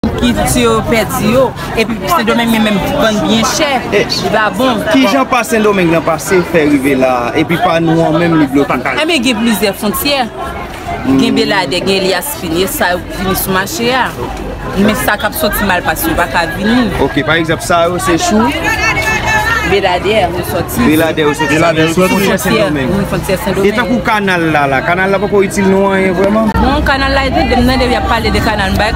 Kilti yo pèdi yo, epi Sendomeng men menm vann byen chè, li pa bon. Kijan pa Sendomeng nan pase fè rive la a, epi pa nou an menm li bloke? Enben gen plizyè fontyè, gen Beladè, gen Elyas Fin, e sa yo ki vini sou mache a, men sa k ap soti Malpas yo pa ka vini. Ok, pa egzanp sa yo se sou? Beladè yo soti. Beladè yo soti, sa vle di fontyè Sendomeng. Wi, fontyè Sendomeng. E tankou kanal la la, kanal la pa ko itil nou anyen vrèman? Bon, kanal la, depi m tande yo ap pale de kanal, m bay.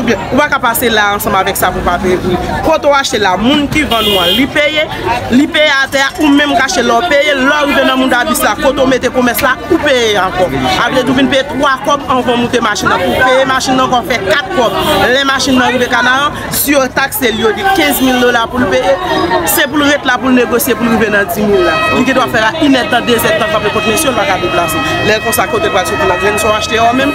Oubyen ou pa ka pase la ansanm avèk sa pou pa peye pou li. Kote ou achte la, moun ki vann ou an li peye, li peye atè a, ou menm k achte la ou peye, lè ou rive nan moun dabis la kote ou mete komès la ou peye ankò. Sa vle di ou vin peye 3 kòb anvan ou moute machin nan. Pou ou peye machin nan ankò fè 4 kòb. Lè machin nan rive Kanaran, si yo takse li yo di 15 mil dola pou l peye, se pou l ret la pou l negosye pou l rive nan 10 mil la. Li gen dwa fè la inèdtan, dezèdtan kanpe kot mesye ou l pa ka deplase. Lè konsa kote l pral soti nan grenn sa ou achte a ou menm?